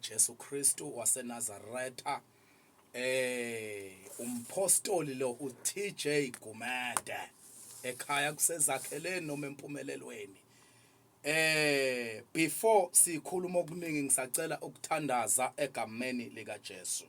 Jesu Kristu waseNazaretha eh umpostoli lo uTJ Gumede ekhaya kusezakheleni noma empumelelweni eh before sikhuluma okuningi ngisacela ukuthandaza egameni lika Jesu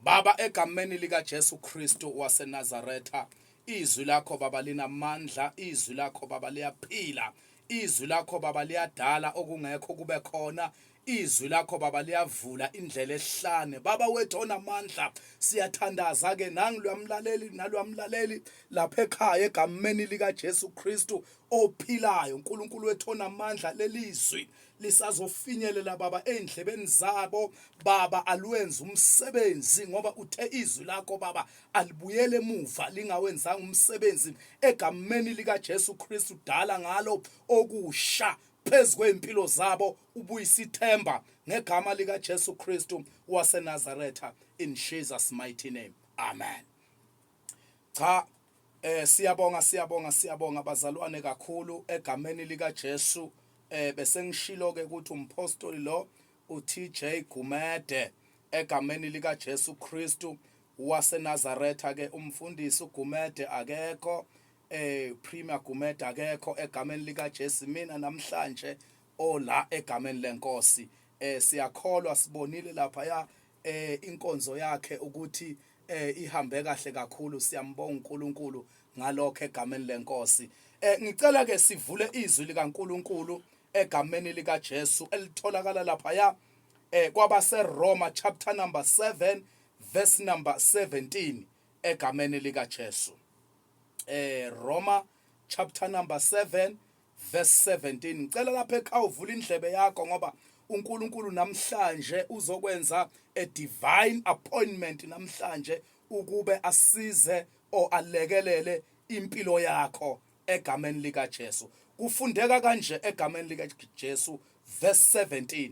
Baba, egameni likaJesu Kristu waseNazaretha, izwi lakho Baba linamandla, izwi lakho Baba liyaphila, izwi lakho Baba liyadala okungekho kube khona izwi lakho baba liyavula indlela ehlane baba wethu onamandla siyathandaza ke nangilwamlaleli nalwamlaleli lapha ekhaya egameni lika Jesu Kristu ophilayo uNkulunkulu wethu onamandla lelizwi lisazofinyelela baba endlebeni zabo baba alwenze umsebenzi ngoba uthe izwi lakho baba alibuyele emuva lingawenzanga umsebenzi egameni lika Jesu Kristu dala ngalo okusha phezu kwey'mpilo zabo ubuyisa ithemba ngegama likajesu kristu wasenazaretha in jesus mighty name amen Cha eh siyabonga siyabonga siyabonga bazalwane kakhulu egameni lika Jesu eh bese ngishilo ke ukuthi umphostoli lo uTJ Gumede egameni lika Jesu Kristu waseNazaretha ke umfundisi uGumede akekho eh Premier Gumede akekho egameni lika Jesu mina namhlanje ola egameni lenkosi eh siyakholwa sibonile lapha ya eh inkonzo yakhe ukuthi eh ihambe kahle kakhulu siyambonga uNkulunkulu ngalokho egameni lenkosi eh ngicela ke sivule izwi likaNkulunkulu egameni lika Jesu elitholakala lapha ya eh kwabase Roma chapter number 7 verse number 17 egameni lika Jesu eh Roma chapter number 7 Verse 17 ngicela lapha ekhaya uvula indlebe yakho ngoba uNkulunkulu namhlanje uzokwenza a divine appointment namhlanje ukube asize o alekelele impilo yakho egameni lika Jesu kufundeka kanje egameni lika Jesu verse 17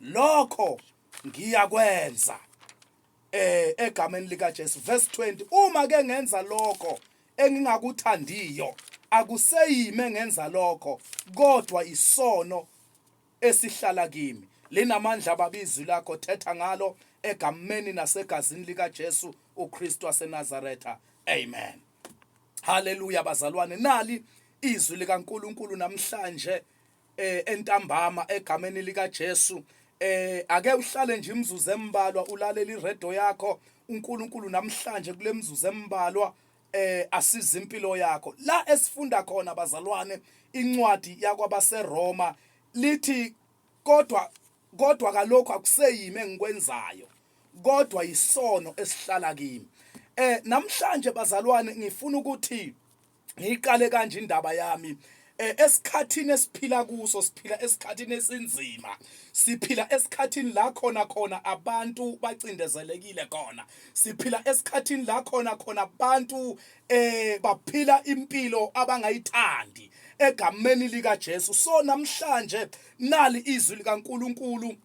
lokho ngiyakwenza eh egameni lika Jesu verse 20 uma ke ngenza lokho engingakuthandiyo akuseyime ngenza lokho kodwa isono esihlala kimi linamandla babizwi lakho thetha ngalo egameni nasegazini lika Jesu uKristu waseNazaretha amen haleluya bazalwane nali izwi likaNkuluNkulu namhlanje eh entambama egameni lika Jesu eh ake uhlale nje imizuzu embalwa ulalela iredo yakho uNkulunkulu namhlanje kule mizuzu embalwa eh asiza impilo yakho la esifunda khona bazalwane incwadi yakwabaseRoma lithi kodwa kodwa kalokho akuseyimi engikwenzayo kodwa yisono esihlala kimi eh namhlanje bazalwane ngifuna ukuthi ngiyiqale kanje indaba yami eh, esikhathini esiphila kuso siphila esikhathini esinzima siphila esikhathini la khona khona abantu bacindezelekile khona siphila esikhathini la khona khona abantu eh baphila impilo abangayithandi egameni lika Jesu so namhlanje nali izwi likaNkuluNkulu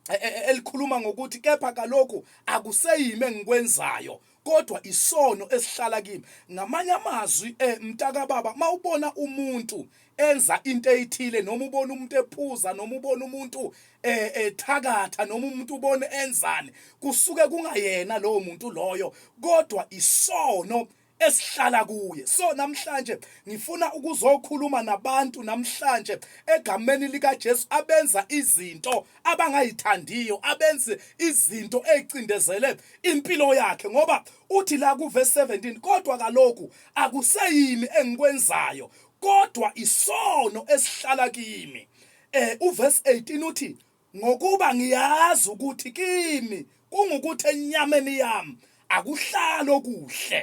e, e, e, elikhuluma ngokuthi kepha kaloku akuseyimi engikwenzayo kodwa isono esihlala kimi ngamanye amazwi eh mtaka baba mawubona umuntu enza into ethile noma ubona umuntu ephuza noma ubona umuntu eh ethakatha noma umuntu ubone enzani kusuke kungayena lowo muntu loyo kodwa isono esihlala kuye so namhlanje ngifuna ukuzokhuluma nabantu namhlanje egameni likaJesu abenza izinto abangayithandiyo abenze izinto ezicindezele impilo yakhe ngoba uthi la kuve 17 kodwa kaloku akuseyimi engikwenzayo kodwa isono esihlala kimi eh uverse 18 uthi Ngokuba ngiyazi ukuthi kimi kungukuthi enyameni yami akuhlali okuhle,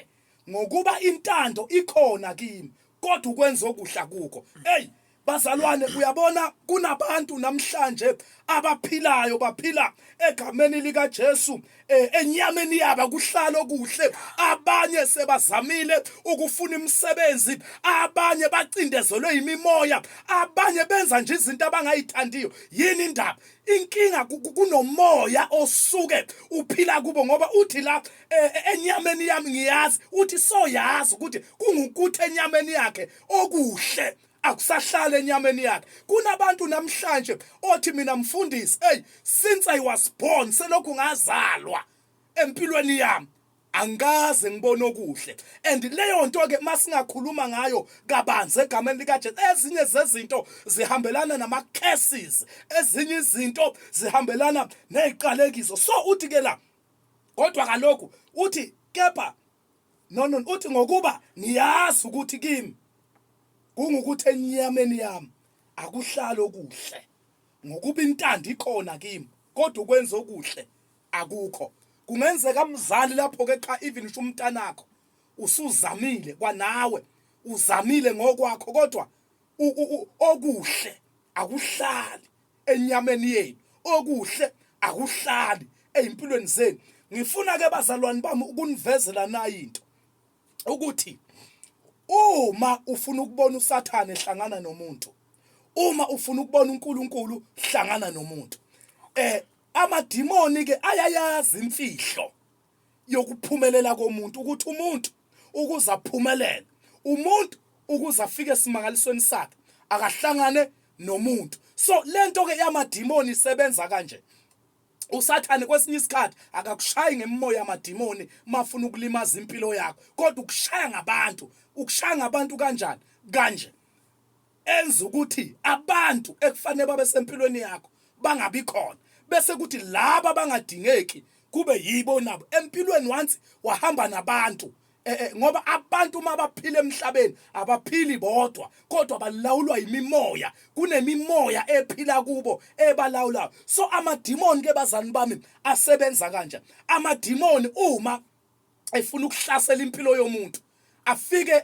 ngokuba intando ikhona kimi, kodwa ukwenza okuhle akukho. Eyi, bazalwane, uyabona, kunabantu namhlanje abaphilayo, baphila egameni likaJesu, Eh, enyameni yaba kuhlalo kuhle abanye sebazamile ukufuna imisebenzi abanye bacindezelwe imimoya abanye benza nje izinto abangayithandiyo yini indaba inkinga kunomoya osuke uphila kubo ngoba uthi la e, e, enyameni yami ngiyazi uthi soyazi ukuthi kungukuthi enyameni yakhe okuhle akusahlali enyameni yakhe kunabantu namhlanje othi mina mfundisi hey since i was born selokhu ngazalwa empilweni yami angikaze ngibone okuhle and leyo nto ke masingakhuluma ngayo kabanzi egameni likaJesu ezinye zezinto zihambelana nama curses ezinye izinto zihambelana neziqalekiso so uthi ke la kodwa kaloku uthi kepha No no uthi ngokuba ngiyazi ukuthi kimi kungukuthi enyameni yami akuhlalo kuhle ngokuba intando ikhona kimi kodwa ukwenza okuhle akukho kungenzeka mzali lapho ke cha even usho umntanakho usuzamile kwanawe uzamile ngokwakho kodwa okuhle akuhlali enyameni yenu okuhle akuhlali ezimpilweni zenu ngifuna ke bazalwane bami ukunivezela nayi into ukuthi uma ufuna ukubona usathane hlangana nomuntu uma ufuna ukubona uNkulunkulu hlangana nomuntu eh amadimoni ke ayayazi imfihlo yokuphumelela komuntu ukuthi umuntu ukuze aphumelele umuntu ukuze afike esimangalisweni sakhe akahlangane nomuntu so lento ke yamadimoni isebenza kanje usathane kwesinye isikhathi akakushayi ngemimoya yamadimoni mafuna ukulimaza impilo yakho kodwa ukushaya ngabantu ukushaya ngabantu kanjani kanje enza ukuthi abantu ekufanele babe sempilweni yakho bangabi khona bese kuthi laba bangadingeki kube yibo nabo empilweni once wahamba nabantu eh, eh, ngoba abantu uma baphila emhlabeni abaphili bodwa kodwa balawulwa yimimoya kunemimoya ephila kubo ebalawulayo so amadimoni ke bazani bami asebenza kanje amadimoni uma efuna ukuhlasela impilo yomuntu afike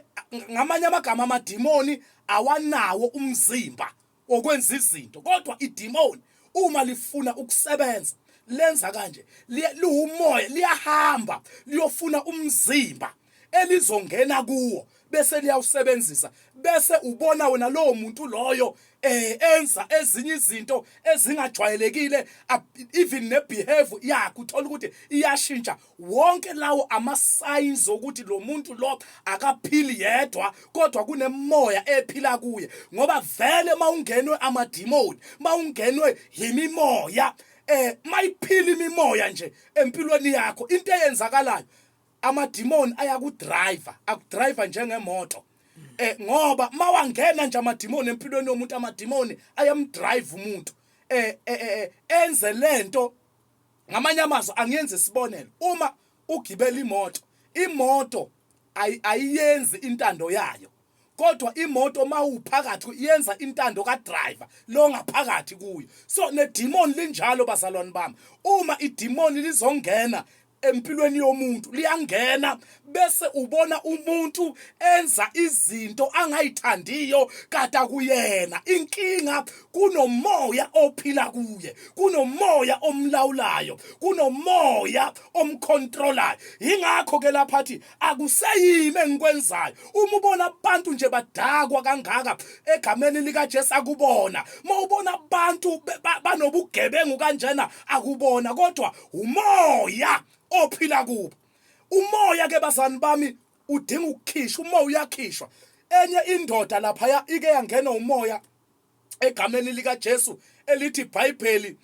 ngamanye amagama amadimoni awanawo umzimba okwenza izinto kodwa idimoni uma lifuna ukusebenza lenza kanje liwumoya liyahamba liyofuna umzimba elizongena kuwo bese liyawusebenzisa bese ubona wena lowo muntu loyo eh enza ezinye izinto ezingajwayelekile even nebehavior yakhe uthola ukuthi iyashintsha wonke lawo ama-signs okuthi lo muntu lo akaphili yedwa kodwa kunemoya ephila kuye ngoba vele uma ungenwe amadimoni uma ungenwe yimimoya eh mayiphila imimoya nje empilweni yakho into eyenzakalayo amadimoni ayakudriver akudriver njengemoto eh ngoba mawangena nje amadimoni empilweni yomuntu amadimoni ayamdrive umuntu eh, eh, eh, eh enze lento ngamanye amazwi angenza isibonelo uma ugibela imoto imoto ayiyenzi intando yayo kodwa imoto mawuphakathi yenza intando ka driver lo ngaphakathi kuyo so ne demon linjalo bazalwane bami uma i demon lizongena empilweni yomuntu liyangena bese ubona umuntu enza izinto angayithandiyo kade kuyena inkinga kunomoya ophila kuye kunomoya omlawulayo kunomoya omcontrolayo ingakho ke lapha athi akuseyimi engikwenzayo uma ubona abantu nje badakwa kangaka egameni lika Jesu akubona uma ubona abantu banobugebengu kanjena akubona kodwa umoya ophila kubo umoya ke bazani bami udinga ukukhishwa umoya uyakhishwa enye indoda laphaya ike yangena umoya egameni lika Jesu elithi Bible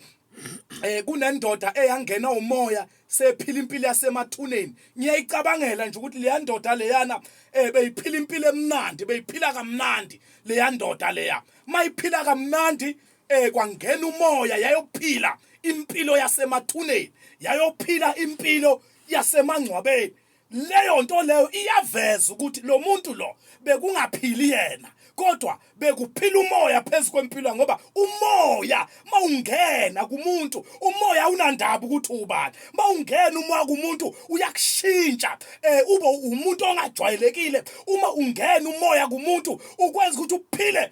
eh kunendoda eyangena umoya sephila impilo yasemathuneni ngiyayicabangela nje ukuthi leya ndoda leyana eh beyiphila impilo emnandi beyiphila kamnandi leya ndoda leya mayiphila kamnandi Eh kwangena umoya yayophila impilo yasemathuneni, yayophila impilo yasemangcwabeni. Leyo nto leyo iyaveza ukuthi lo muntu lo bekungaphili yena kodwa bekuphila umoya phezu kwempilo ngoba umoya mawungena kumuntu umoya unandaba ukuthi ubani mawungena umoya kumuntu uyakushintsha eh ube umuntu ongajwayelekile uma ungena umoya kumuntu ukwenza ukuthi uphile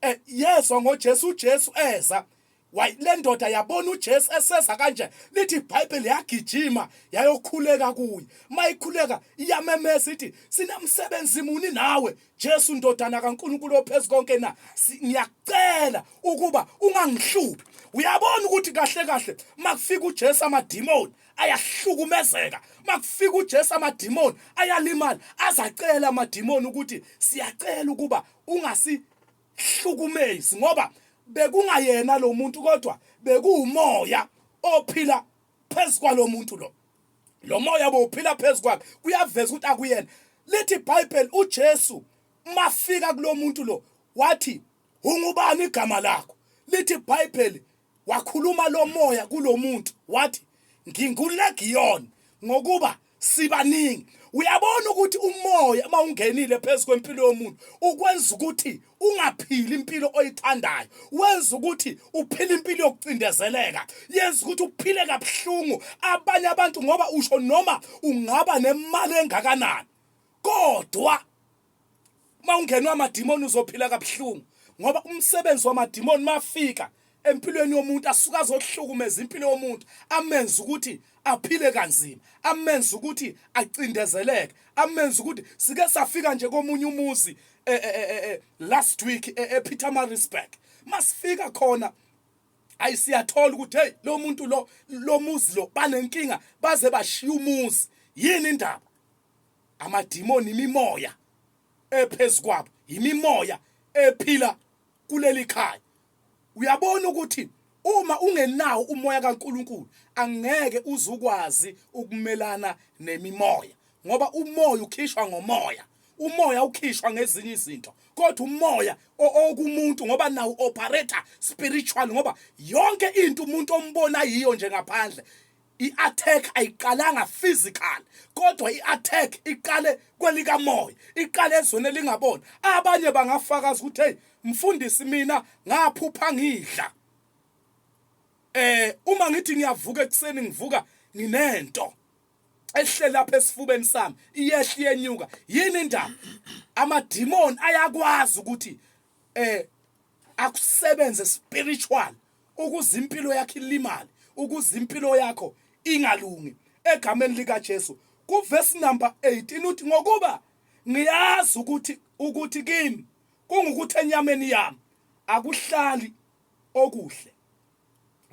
eh, yezwa ngoJesu uJesu eza wayi le ndoda yabona uJesu eseza kanje lithi iBhayibheli yagijima yayokhuleka kuye mayikhuleka iyamemeza ithi sinamsebenzi muni nawe Jesu ndodana kaNkulunkulu ophezulu konke na ngiyacela ukuba ungangihluphi uyabona ukuthi kahle kahle makufika uJesu amadimoni ayahlukumezeka makufika uJesu amadimoni ayalimala azacela amadimoni ukuthi siyacela ukuba ungasihlukumezi ngoba bekungayena lo muntu kodwa bekuwumoya ophila phezu kwalomuntu lo lo moya bowuphila phezu kwakhe kuyaveza ukuthi akuyena lithi ibhayibheli ujesu mafika kulo muntu lo wathi ungubani igama lakho lithi ibhayibheli Wakhuluma lo moya kulo muntu wathi ngingulegiyoni ngokuba sibaningi. Uyabona ukuthi umoya uma ungenile phezu kwempilo yomuntu ukwenza ukuthi ungaphili impilo oyithandayo wenza ukuthi uphile impilo yokucindezeleka yenza ukuthi uphile kabuhlungu abanye abantu ngoba usho noma ungaba nemali engakanani kodwa uma ungenwa amadimoni uzophila kabuhlungu ngoba umsebenzi wamadimoni mafika empilweni yomuntu asuke azohlukumeza impilo yomuntu amenze ukuthi aphile kanzima amenze ukuthi acindezeleke amenze ukuthi sike safika nje komunye umuzi eh, eh, eh, last week ePeter Marisburg masifika khona ayi siyathola ukuthi hey lo muntu lo lo muzi lo banenkinga baze bashiya umuzi yini indaba amadimoni imimoya ephezu kwabo yimimoya ephila kuleli khaya uyabona ukuthi uma ungenawo umoya kaNkuluNkulu angeke uzukwazi ukumelana nemimoya ngoba umoya ukhishwa ngomoya umoya ukhishwa ngezinye izinto kodwa umoya okumuntu ngoba nawo operator spiritual ngoba yonke into umuntu ombona yiyo nje ngaphandle I-attack ayiqalanga physical kodwa i-attack iqale kwelikamoya iqale ezweni elingaboni abanye bangafakaza ukuthi hey mfundisi mina ngaphupha ngidla eh uma ngithi ngiyavuka ekuseni ngivuka nginento ehle lapha esifubeni sami iyehle yenyuka yini indaba amadimoni ayakwazi ukuthi eh akusebenze spiritual ukuze impilo yakhe ilimale ukuze impilo yakho ingalungi egameni likaJesu kuvesi number 18 uthi ngokuba ngiyazi ukuthi ukuthi kimi kungukuthi enyameni yami akuhlali okuhle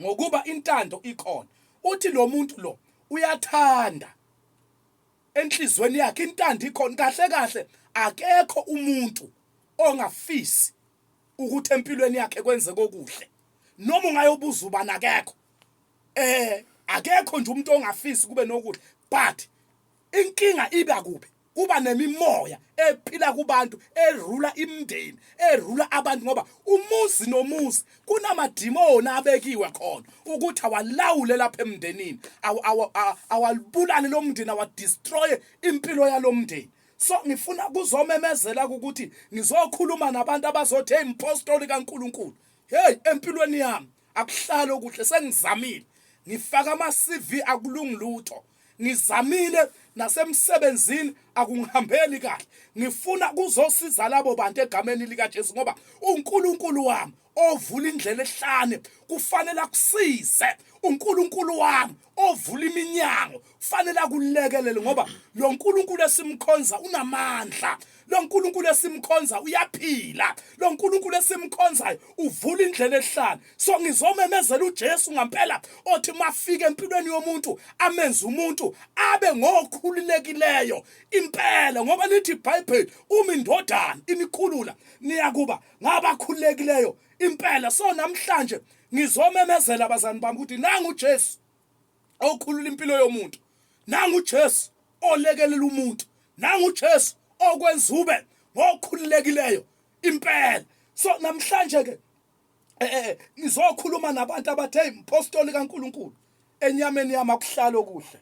ngokuba intando ikhona uthi lo muntu lo uyathanda enhlizweni yakhe intando ikhona kahle kahle akekho umuntu ongafisi ukuthi empilweni yakhe kwenzeka okuhle noma ungayobuza ubani akekho eh akekho nje umuntu ongafisi kube nokuhle but inkinga iba kuphi kuba nemimoya ephila kubantu erula imndeni erula abantu ngoba umuzi nomuzi kunamadimoni abekiwe khona ukuthi awalawule lapha emndenini awalibulale lo mndeni awadestroye impilo yalo mndeni so ngifuna kuzomemezela ukuthi ngizokhuluma nabantu abazothi hey mpostoli kaNkuluNkulu hey empilweni yami akuhlala okuhle sengizamile ngifaka ama CV akulungi lutho ngizamile nasemsebenzini akungihambeli kahle ngifuna kuzosiza labo bantu egameni lika Jesu ngoba uNkulunkulu wami ovula indlela ehlane kufanele akusize uNkulunkulu wami ovula iminyango kufanele akulekelele ngoba lo Nkulunkulu esimkhonza unamandla lo Nkulunkulu esimkhonza uyaphila lo Nkulunkulu esimkhonzayo uvula indlela ehlane so ngizomemezela uJesu ngampela othi mafike empilweni yomuntu amenze umuntu abe ngokhululekileyo impela ngoba lithi iBhayibheli uma indodana inikhulula niyakuba ngabakhululekileyo impela so namhlanje ngizomemezela abazani bami ukuthi nangu uJesu okhulula impilo yomuntu nangu uJesu olekelela umuntu nangu uJesu okwenza ube ngokhululekileyo impela so namhlanje ke eh, eh, eh ngizokhuluma nabantu abathe impostoli kaNkuluNkulu enyameni yami akuhlalo kuhle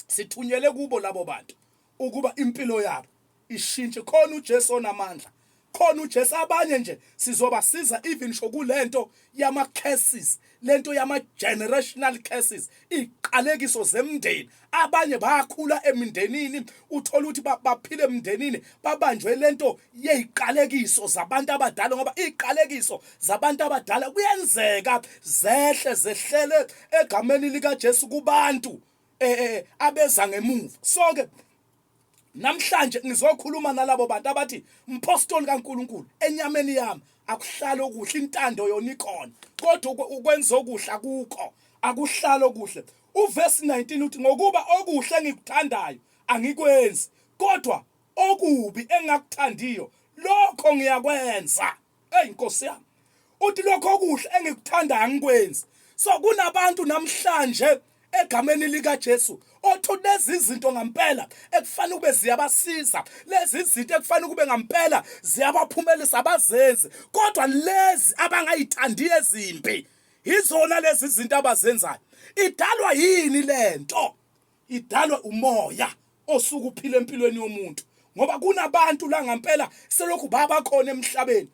sithunyele kubo labo bantu ukuba impilo yabo ishintshe khona uJesu onamandla khona uJesu abanye nje sizobasiza even sho kulento yama curses lento yama generational curses iqalekiso zemndeni abanye bakhula emindenini uthola ukuthi baphile emindenini babanjwe lento yeziqalekiso zabantu abadala ngoba iqalekiso zabantu abadala kuyenzeka zehle zehlele egameni lika Jesu kubantu eh, eh, eh abeza ngemuva sonke namhlanje ngizokhuluma nalabo bantu abathi mpostoli kaNkuluNkulu enyameni yami akuhlalo kuhle intando yona ikhona kodwa ukwenza okuhle akukho akuhlalo kuhle uverse 19 uthi ngokuba okuhle engikuthandayo angikwenzi kodwa okubi engakuthandiyo lokho ngiyakwenza eyi nkosi yami uthi lokho okuhle engikuthanda angikwenzi so kunabantu namhlanje egameni likaJesu othi lezi zinto ngampela ekufanele kube ziyabasiza lezi zinto ekufanele kube ngampela ziyabaphumelisa abazenzi kodwa lezi abangayithandi ezimbi yizona lezi zinto abazenzayo idalwa yini lento idalwe umoya osuke uphila empilweni yomuntu ngoba kunabantu la ngampela selokhu baba khona emhlabeni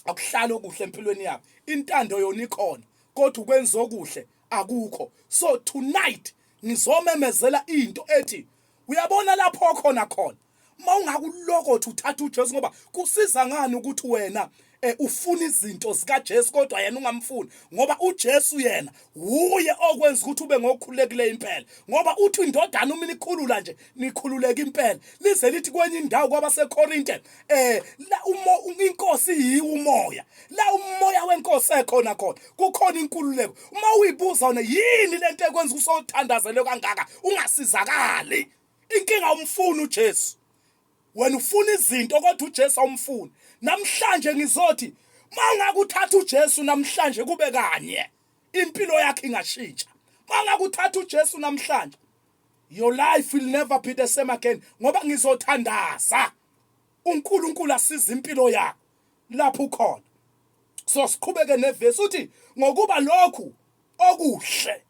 akuhlala okuhle empilweni yabo intando yona ikhona kodwa ukwenza okuhle akukho so tonight ngizomemezela into ethi uyabona lapho khona khona uma ungakulokothi uthatha uJesu ngoba kusiza ngani ukuthi wena eh, ufuna izinto zikaJesu kodwa yena ungamfuni ngoba uJesu yena wuye okwenza ukuthi ube ngokhulekile impela ngoba uthi indodana uma nikhulula nje nikhululeke impela lize lithi kwenye indawo kwabaseKorinte eh la umo inkosi yiwumoya la umoya wenkosi ekhona khona kukhona inkululeko uma uyibuza wena yini lento ekwenza usothandazelwe kangaka ungasizakali inkinga awumfuni uJesu wena ufuna izinto kodwa uJesu awumfuni namhlanje ngizothi mangakuthatha uJesu namhlanje kube kanye impilo yakhe ingashintsha mangakuthatha uJesu namhlanje your life will never be the same again ngoba ngizothandaza uNkulunkulu asiza impilo yakho lapho ukhona so siqhubeke nevesi uthi ngokuba lokhu okuhle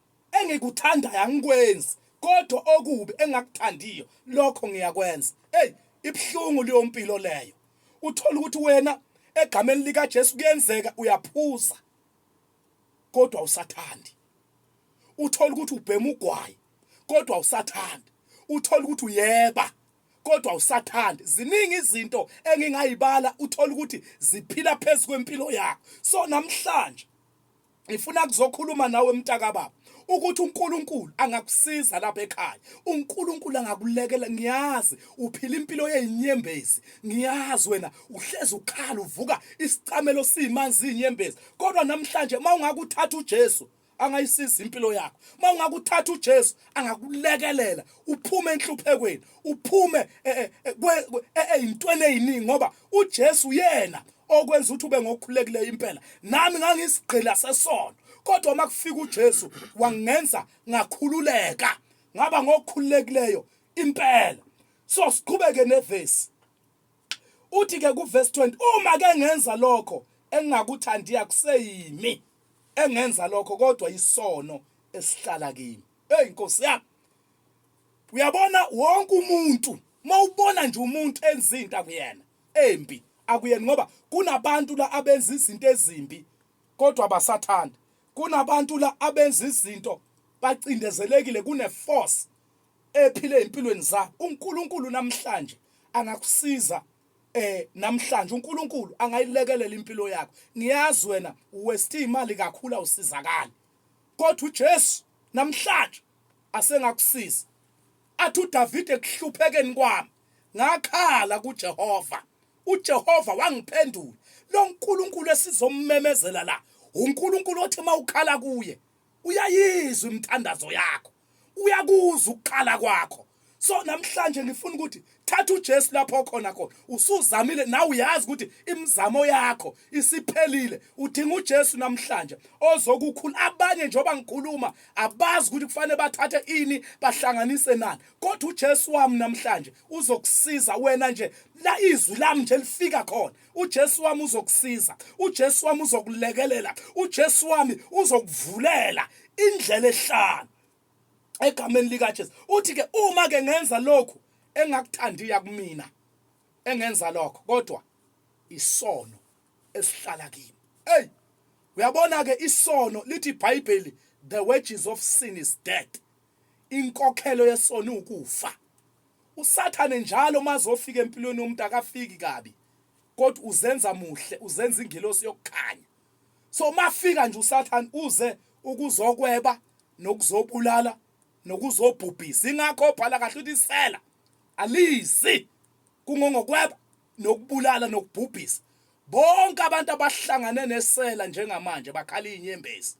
Engikuthandayo angikwenzi kodwa okubi engakuthandiyo lokho ngiyakwenza. Hey, ibuhlungu leyo mpilo leyo. Uthola ukuthi wena egameni lika Jesu kuyenzeka uyaphuza kodwa usathandi. Uthola ukuthi ubhema ugwayi kodwa usathandi. Uthola ukuthi uyeba kodwa usathandi ziningi izinto engingayibala uthola ukuthi ziphila phezu kwempilo yakho so namhlanje ngifuna kuzokhuluma nawe mntakababa ukuthi uNkulunkulu angakusiza lapha ekhaya uNkulunkulu angakulekela ngiyazi uphila impilo yezinyembezi ngiyazi wena uhlezi ukhala uvuka isicamelo simanzi izinyembezi kodwa namhlanje mawungakuthatha uJesu angayisiza impilo yakho uma ungakuthatha uJesu angakulekelela uphume enhluphekweni uphume ezintweni eh, eh, eh, eziningi ngoba uJesu uyena okwenza ukuthi ube ngokhulekile impela nami ngangisigqila sesono kodwa uma kufika uJesu wangenza ngakhululeka ngaba ngokhululekileyo impela so siqhubeke nevesi uthi ke kuverse 20 uma ke ngenza lokho engingakuthandi akuseyimi engenza lokho kodwa isono esihlala kimi hey inkosi yami uyabona wonke umuntu mawubona nje umuntu enza into akuyena embi akuyena ngoba kunabantu la abenza izinto ezimbi kodwa basathanda kunabantu la abenza izinto bacindezelekile kune force ephile empilweni zakho uNkulunkulu namhlanje angakusiza eh namhlanje uNkulunkulu angayilekelela impilo yakho ngiyazi wena uwesti imali kakhulu awusizakali kodwa uJesu namhlanje asengakusiza athi uDavide kuhluphekeni kwami ngakhala kuJehova uJehova wangiphendula lo nkulunkulu esizommemezela la unkulunkulu othi uma ukhala kuye uyayizwa imithandazo yakho uyakuza ukukhala kwakho so namhlanje ngifuna ukuthi thatha uJesu lapho khona khona usuzamile nawe uyazi ukuthi imizamo yakho isiphelile udinga uJesu namhlanje ozokukhula abanye njengoba ngikhuluma abazi ukuthi kufanele bathathe ini bahlanganise nani kodwa uJesu wami namhlanje uzokusiza wena nje la izwi lami nje lifika khona uJesu wami uzokusiza uJesu wami uzokulekelela uJesu wami uzokuvulela indlela ehlala egameni likaJesu uthi ke uma ke ngenza lokhu engakuthandiya kumina engenza lokho kodwa isono esihlala kimi hey uyabona ke isono lithi iBhayibheli the wages of sin is death inkokhelo yesono ukufa usathane njalo mazofika empilweni yomuntu akafiki kabi kodwa uzenza muhle uzenza ingelosi yokukhanya so mafika nje usathane uze ukuzokweba nokuzobulala nokuzobhubhisa ingakho obhala kahle uthi isela alizi kungongokweba nokubulala nokubhubhisa bonke abantu abahlangane nesela njengamanje bakhala inyembezi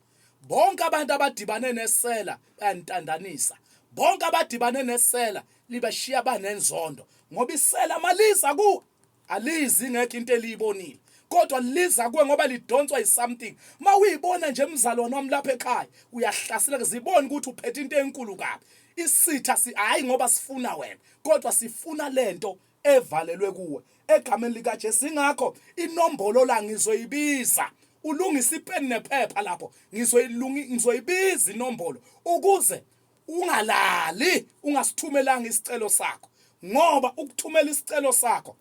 bonke abantu abadibane nesela bayantandanisa bonke abadibane nesela libashiya banenzondo ngoba isela maliza ku alizi ngekho into eliyibonile kodwa liza kuwe ngoba lidonswa yisomething uma uyibona nje mzalwane wami lapha ekhaya uyahlaseleka zibone ukuthi uphethe into enkulu kabi isitha si hayi ngoba sifuna wena kodwa sifuna lento evalelwe kuwe egameni lika Jesu ingakho inombolo la ngizoyibiza ulungisa ipeni nephepha lapho ngizoyilungi ngizoyibiza inombolo ukuze ungalali ungasithumelanga isicelo sakho ngoba ukuthumela isicelo sakho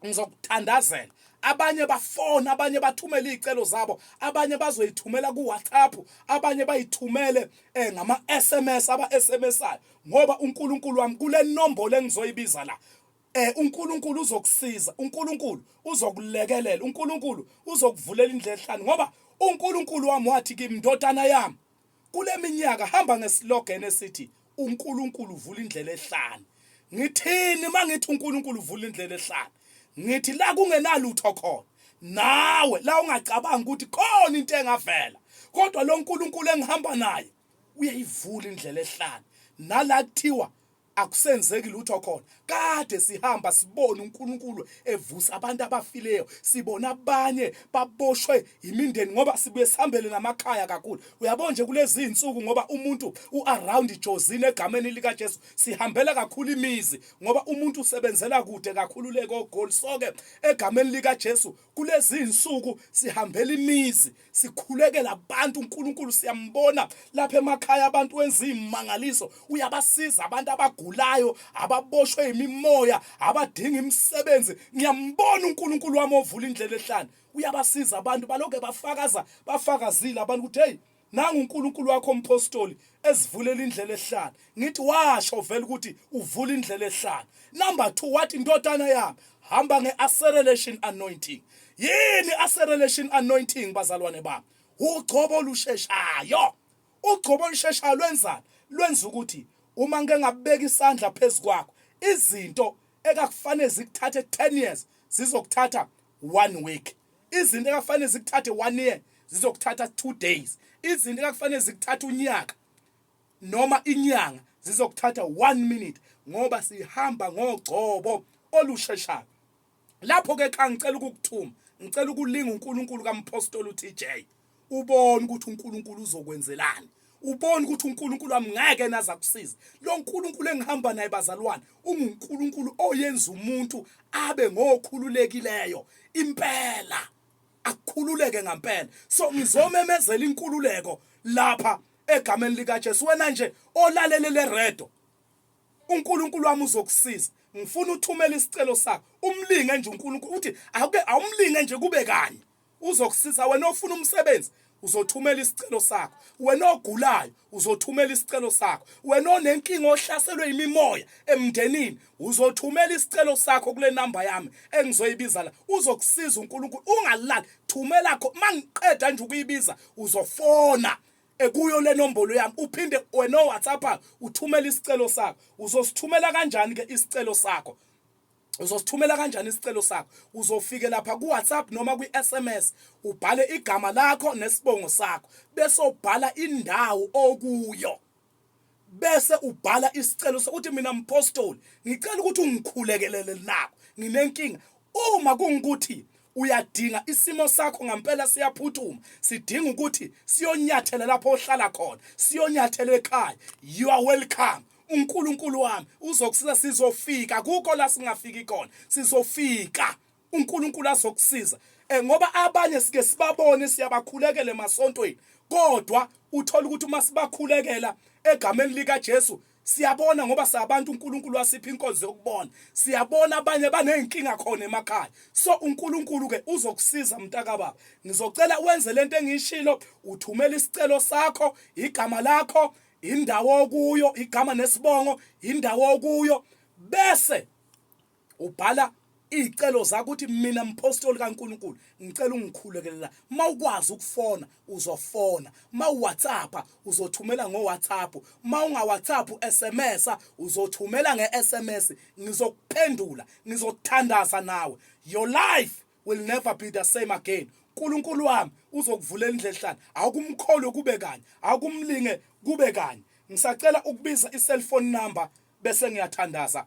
ngizokuthandazela abanye bafona abanye bathumele izicelo zabo abanye bazoyithumela ku WhatsApp abanye bayithumele eh, ngama SMS aba SMSayo ngoba uNkulunkulu wami kule nombolo engizoyibiza la eh uNkulunkulu uzokusiza uNkulunkulu uzokulekelela uNkulunkulu uzokuvulela indlela ehlanu ngoba uNkulunkulu wami wathi kimi ndodana yami Kule minyaka hamba ngeslogan esithi uNkulunkulu uvula indlela ehlane. Ngithini uma ngithi uNkulunkulu uvula indlela ehlane? Ngithi la kungenalutho khona. Nawe la ungacabanga ukuthi khona into engavela. Kodwa lo Nkulunkulu engihamba naye uyayivula indlela ehlane. Nala kuthiwa akusenzeki lutho khona kade sihamba sibona uNkulunkulu evusa abantu abafileyo sibona abanye baboshwe imindeni ngoba sibuye sihambele namakhaya kakhulu uyabona nje kulezi insuku ngoba umuntu uaround ijozini egameni lika Jesu sihambela kakhulu imizi ngoba umuntu usebenzela kude kakhulu leko goal soke egameni lika Jesu kulezi insuku sihambela imizi sikhulekela abantu uNkulunkulu siyambona lapha emakhaya abantu wenza imangaliso uyabasiza abantu abagulayo ababoshwe imimoya abadinga imisebenzi ngiyambona uNkulunkulu wami ovula indlela ehlane uyabasiza abantu baloke bafakaza bafakazile abantu ukuthi hey nangu uNkulunkulu wakho umpostoli esivulela indlela ehlane ngithi washo vele ukuthi uvula indlela ehlala number 2 wathi indodana yami hamba ngeacceleration anointing yini acceleration anointing bazalwane bami ugcobo olusheshayo ugcobo olusheshayo lwenzani lwenza ukuthi uma ngeke ngabeka isandla phezukwakho izinto ekakufanele zikuthathe 10 years zizokuthatha 1 week izinto ekakufanele zikuthathe 1 year zizokuthatha 2 days izinto ekakufanele zikuthatha unyaka noma inyanga zizokuthatha 1 minute ngoba sihamba ngogcobo olusheshayo lapho ke xa ngicela ukukuthuma ngicela ukulinga uNkulunkulu kaMphostoli uTJ ubone ukuthi uNkulunkulu uzokwenzelani ubone ukuthi uNkulunkulu amngeke naza kusiza lo nkulunkulu engihamba naye bazalwane ungunkulunkulu oyenza umuntu abe ngokhululekileyo impela akukhululeke ngampela so ngizomemezela inkululeko lapha egameni likaJesu wena nje olalele le redo uNkulunkulu wami uzokusiza ngifuna uthumele isicelo sakho umlinge nje uNkulunkulu uthi awuke awumlinge nje kube kanye uzokusiza wena ofuna umsebenzi uzothumela isicelo sakho wena ogulayo uzothumela isicelo sakho wena onenkinga ohlaselwe imimoya emndenini Uzothumela isicelo sakho kule namba yami engizoyibiza la. Uzokusiza uNkulunkulu ungalali. Thumela kho mangiqeda nje ukuyibiza uzofona ekuyo le nombolo yami uphinde wena oWhatsApp uthumela isicelo sakho. Uzosithumela kanjani ke isicelo sakho? uzosithumela kanjani isicelo sakho uzofike lapha kuWhatsApp noma kwiSMS ubhale igama lakho nesibongo sakho bese ubhala indawo okuyo bese ubhala isicelo sokuthi mina mphostoli ngicela ukuthi ungikhulekelele nako nginenkinga uma kungukuthi uyadinga isimo sakho ngampela siyaphuthuma sidinga ukuthi siyonyathela lapho ohlala khona siyonyathela ekhaya you are welcome uNkulunkulu wami uzokusiza sizofika kuko la singafiki khona sizofika uNkulunkulu azokusiza eh, ngoba abanye sike sibabone siyabakhulekela emasontweni kodwa uthola ukuthi uma sibakhulekela egameni lika Jesu siyabona ngoba sabantu uNkulunkulu wasipha inkonzo yokubona siyabona abanye banezinkinga khona emakhaya so uNkulunkulu ke uzokusiza mntaka baba ngizocela wenze lento engishilo uthumela isicelo sakho igama lakho indawo okuyo igama nesibongo indawo okuyo bese Ubhala iy'celo zakho ukuthi mina mphostoli kaNkulunkulu ngicela ungikhulekelela uma ukwazi ukufona uzofona uma uwhatsappa uzothumela ngowhatsapp uma ungawhatsapp u-sms uzothumela nge-sms ngizokuphendula ngizothandaza nawe your life will never be the same again unkulunkulu wami uzokuvulela indlela ehlala awukumkholwe kube kanye awukumlinge kube kanye ngisacela ukubiza i-cellphone number bese ngiyathandaza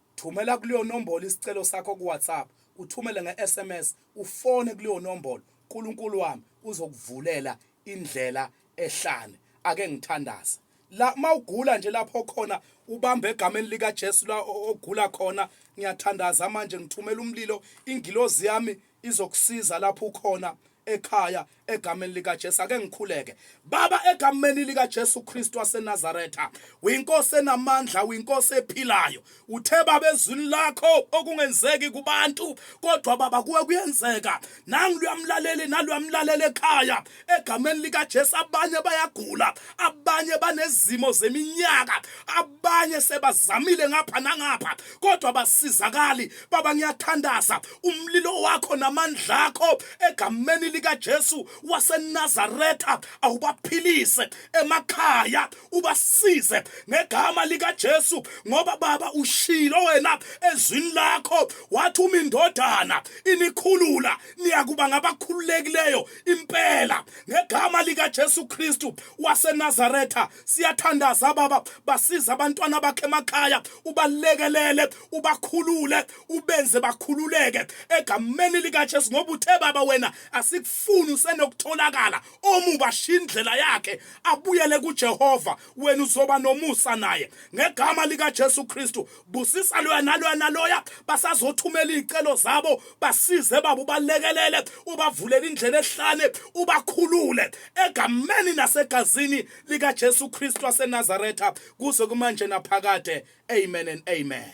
Thumela kuleyo nombolo isicelo sakho kuWhatsApp, uthumele nge-SMS, ufone kuleyo nombolo. Nkulunkulu wami uzokuvulela indlela ehlane. Ake ngithandaze. La mawugula nje lapho khona ubamba egameni lika Jesu la ogula khona ngiyathandaza manje ngithumela umlilo ingilozi yami izokusiza lapho ukhona ekhaya egameni likaJesu ake ngikhuleke baba egameni likaJesu Kristu waseNazaretha uyinkosi enamandla uyinkosi ephilayo uthe baba ezwini lakho okungenzeki kubantu kodwa baba kuwe kuyenzeka nangu luyamlaleli naluyamlaleli ekhaya egameni likaJesu abanye bayagula abanye banezimo zeminyaka abanye sebazamile ngapha nangapha kodwa basizakali baba ngiyathandaza umlilo wakho namandla akho egameni likaJesu waseNazaretha awubaphilise emakhaya ubasize ngegama likaJesu ngoba baba ushilo wena ezwini lakho wathi uma indodana inikhulula niyakuba ngabakhululekileyo impela ngegama likaJesu Kristu waseNazaretha siyathandaza baba basiza abantwana bakhe emakhaya ubalekelele ubakhulule ubenze bakhululeke egameni likaJesu ngoba uthe baba wena asikufuni usenokutholakala omuba shindlela yakhe abuyele kuJehova wena uzoba nomusa naye ngegama likaJesu Kristu busisa loya naloya naloya basazothumela izicelo zabo basize baba ubalekelele ubavulele indlela ehlane ubakhulule egameni nasegazini lika Jesu Kristu waseNazaretha kuze kumanje naphakade amen and amen